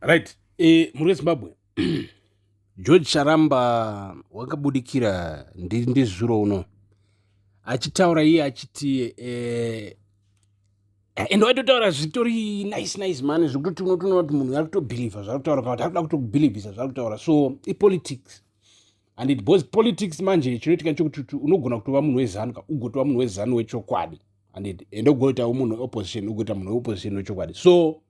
right e, mhuri yezimbabwe george charamba wakabudikira ndizuro uno achitaura iye achiti eh, and waitotaura zvitori nice nice mani zvekutoti unotoona kuti munhu ari kutobhilivha zvaari kutaura kana kuti ari kuda kutobhilivhisa zvaari kutaura so ipolitics and it bos politics manje chinoitika chokuti unogona kutova munhu wezanu ka ugotova munhu wezanu wechokwadi and ende ugoitawo munhu weopposition ugoita munhu weopposition wechokwadi so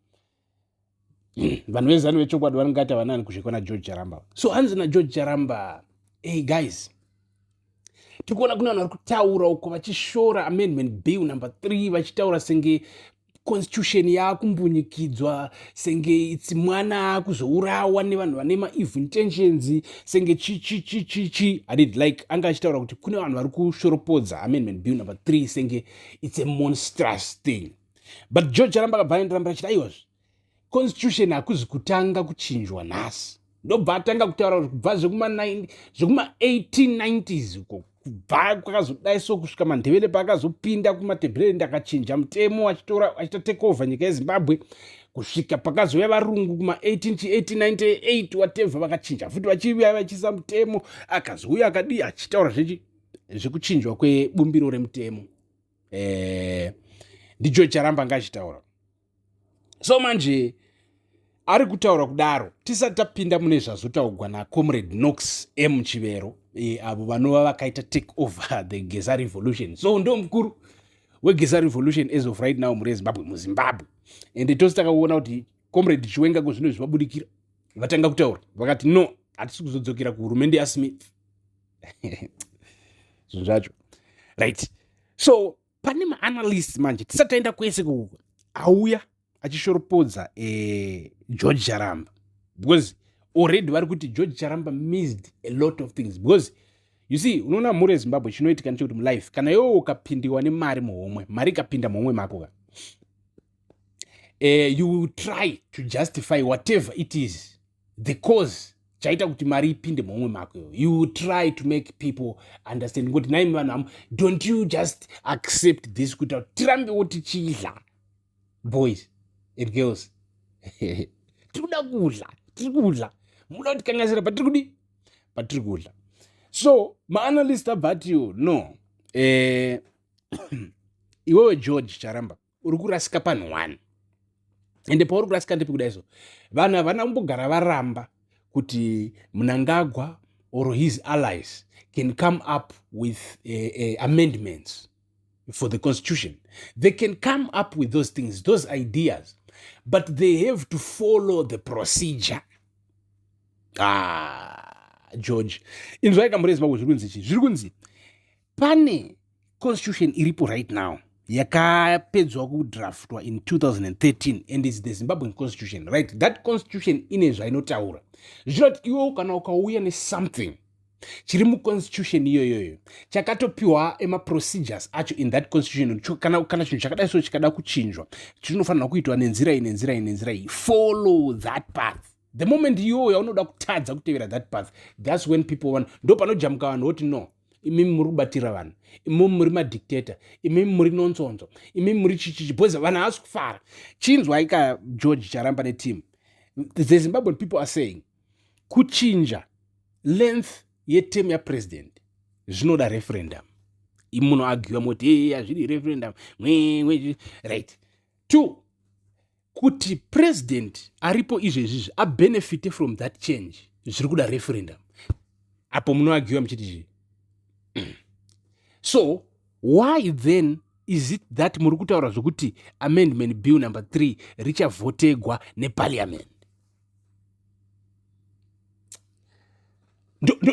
vanhu vezanu vechokwadi vanongati havana ani kusvikwa nageorge charamba so hanzi nageorge charamba hey guys tiri kuona kune vanhu vari kutaura uko vachishora amendment bill number three vachitaura senge constitution yaakumbunyikidzwa senge itsi mwana akuzourawa nevanhu vane maeve intentions senge chichichichichi adid like anga achitaura kuti kune vanhu vari kushoropodza amendment bill number three senge its a monstrous thing but george aramba akabva andirambira achiti aiwazve constitution hakuzi kutanga kuchinjwa nhasi ndobva atanga kutaura kuti kubva zvekuma1890s uko kubva kwakazodai so kusvika mandevele paakazopinda kumatebhureri ndakachinja mutemo achitora achita take over nyika yezimbabwe kusvika pakazouya varungu kuma1898 watevha vakachinja futi vachiuya vachiisa mutemo akazouya akadii achitaura zvechi zvekuchinjwa kwebumbiro remutemo eh, ndicho charamba anga achitaura so manje ari kutaura kudaro tisati tapinda mune zvazotaugwa nacomrade nox m chivero e, avo vanova vakaita take over the geza revolution so ndo mukuru wegeza revolution as of right now muri ezimbabwe muzimbabwe and tose takaona kuti comrade chiwenga ko zvino zvivabudikira vatanga kutaura vakati no hatisi kuzodzokera kuhurumende yasmith zvinhu zvacho right so pane maanalyst manje tisataenda kwese kuko auya achishoropodza eh, george charamba because already vari kuti george charamba missed a lot of things because you see unoona mhuri yezimbabwe chinoitika ndechekuti mulife kana iwewo ukapindiwa nemari muhomwe mari ikapinda muhomwe mako ka uh, you will try to justify whatever it is the cause chaita kuti mari ipinde mumwe mako iyo you try to make people understand ngokuti nai vanhu amo don't you just accept this kuita kuti tirambewo tichidla boys and girls tiri kuda kudla tiri kudla muda kuti kangasira patiri kudi patiri kudla so maanalyst abva atiwo no eh, iwewe george charamba uri kurasika panhu one ende pauri kurasika ndepi kuda izvo vanhu havana kumbogara varamba kuti munangagwa or his allies can come up with uh, uh, amendments for the constitution they can come up with those things those ideas but they have to follow the procedure ah, george inzwai kamurezi mako zviri kunzi chii zviri kunzi pane constitution iripo right now yakapedzwa kudraftwa in 2013 and is the zimbabwean constitution right that constitution ine zvainotaura zvinoti iwewo kana ukauya nesomething chiri muconstitution iyoyoyo chakatopiwa emaprocedures acho in that constitution kana, kana chinhu chakadai so chikada kuchinjwa chinofanirwa kuitwa nenzira iyi nenzira iyi nenzira iyi follow that path the moment iyoyo yaunoda kutadza kutevera that path thats when people want ndo panojamuka vanhu voti no imimi muri kubatira vanhu imimi muri madictator imimi muri nonsonzo imimi muri chichichi bhoza vanhu havasi kufara chinzwai ka george charamba neteam the zimbabwean people are saying kuchinja length yetem yapresident zvinoda referendum imunoagiwa moti e hazvidi referendum right two kuti president aripo izvezvizvi abenefite from that change zviri kuda referendum apo munoagiwa muchiti zvi so why then is it that muri kutaura zvokuti amendment bill number three richavhotegwa neparliament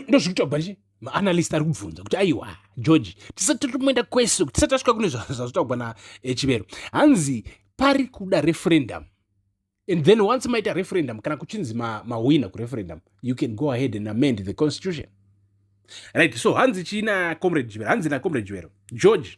ndozvikuita kuba chii maanalyst ari kubvunza kuti aiwa george tisati totomoenda kwese tisati tasvika kune zvazvitaugwa nachivero eh, hanzi pari kuda referendum and then once maita referendum kana kuchinzi mahwina ma kureferendum you can go ahead and amend the constitution right so hanzi chii nacomrade jivero hanzi nacomrade jivero george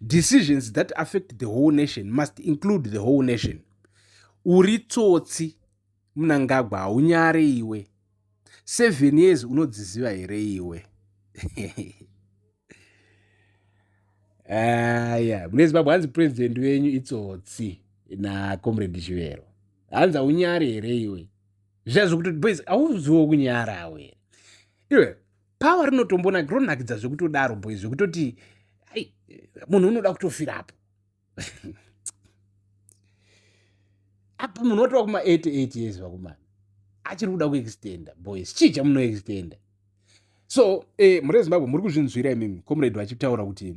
decisions that affect the whole nation must include the whole nation uri tsotsi munangagwa haunyare iwe seven years unodziziva here iwe aya mune zimbabwe hanzi president wenyu itsotsi nacomrade chivero hanzi haunyare here iwe zviya zvekuti boys hauziwo kunyarawe iwe power rinotombona ronakidza zvekutodaro boy zvekutoti ai munhu unoda kutofirapo apa munhu watova kuma 88 years vakomana achiri kuda kuextenda boys chii chamunoextenda so eh, mhuri yezimbabwe muri kuzvinzwira imimi comrade vachitaura kuti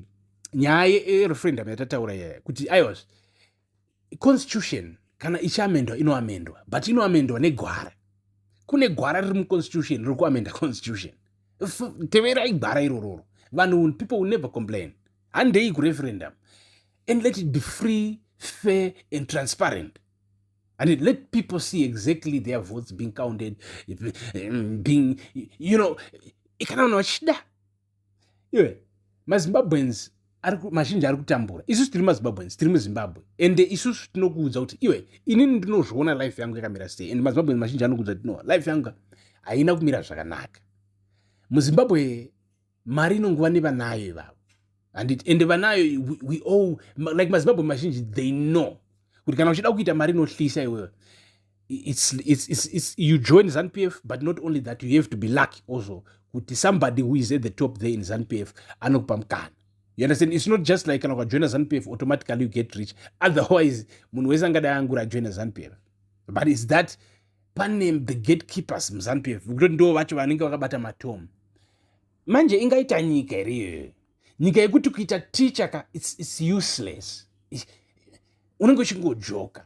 nyaya yerefrendum yatataura yaya kuti aiwazve constitution kana ichiamendwa inoamendwa but inoamendwa negwara kune gwara riri muconstitution riri kuamenda constitution teverai gwara irororo vanhu people will never complain handei kureferendum and let it be free fair and transparent and it let people see exactly their votes being counted being you know kana vanhu vachida iwe mazimbabweans mazhinji ari kutambura isusu tiri mazimbabweans tiri muzimbabwe ende isusu tinokuudza kuti iwe inini ndinozviona life yangu yakamira sei and mazimbabweans mazhinji anokuudza kuti no life yangu haina kumira zvakanaka muzimbabwe mari inonguva nevanayo ivavo handiti ende vanayo we all like mazimbabwe mazhinji they know kuti kana uchida kuita mari inohlisa iwewe it's, it's, it's, it's, you join zanupf but not only that you have to be lucky also kuti somebody who is at the top there in zanupf anokupa mukana you understand it's not just like kana ukajoina zanupf automatically you get rich otherwise munhu wese angadai angura ajoina zanupf but is that pane the gatekeepers muzanupf kutoti ndo vacho vanenge vakabata matom manje ingaita nyika here iyoyo nyika yekuti kuita teacher ka it's, it's useless unenge uchingojoka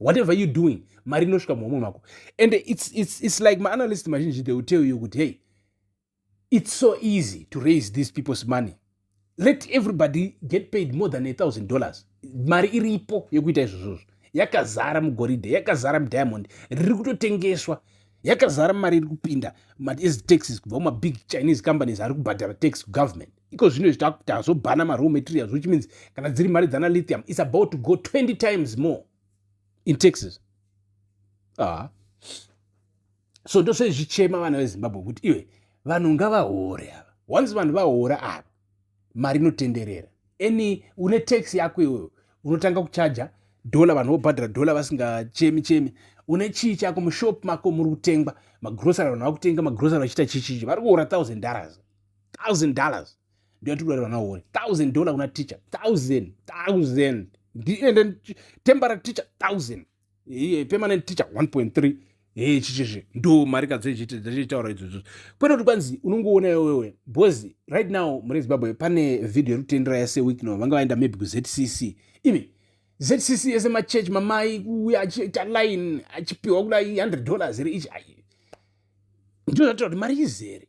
whatever you doing mari inosvika muhomwe mako and it's, it's, it's like maanalyst mazhinji they will tell you kuti hey it's so easy to raise these people's money let everybody get paid more than a thousand dollars mari iripo yekuita izvozvozvo yakazara mugoridhe yakazara mudiamond riri kutotengeswa yakazara mari iri kupinda mataxes kubva mumabig chinese companies ari kubhadhara tax kugovernment iko zvino izvi takuti hazvobhana maraw materials which means kana dziri mari dzana lithium is about to go 20 times more in texas ah. so ndosezvichema vana vezimbabwe kuti iwe vanhu ngavahore ava once vanhu vahora ava mari inotenderera any une tax yako iwewe unotanga kuchaja dhola vanhu vobhadhara dhola vasingachemi chemi une chii chako mushop mako muri kutengwa magrosary vanhu vakutenga magrosary vachiita chichichi vari kuora thousand dollars 1000 dollars ndoyatikuda vana wori 1000 dollar kuna teacher 1000 1000 ndiende tembara teacher 1000 iye permanent teacher 1.3 hee chichizve ndo mari kadzoitaura idzodzo kwete kuti kwanzi unongoona iwewe bcoz right now mune zimbabwe pane vhidhiyo yekutendera yase week no vanga vaenda maybe kuzcc even zcc yese machurch mamai kuuya achiita line achipiwa kudai 100 dollars here ichi ai ndo zvatoa kuti mari izere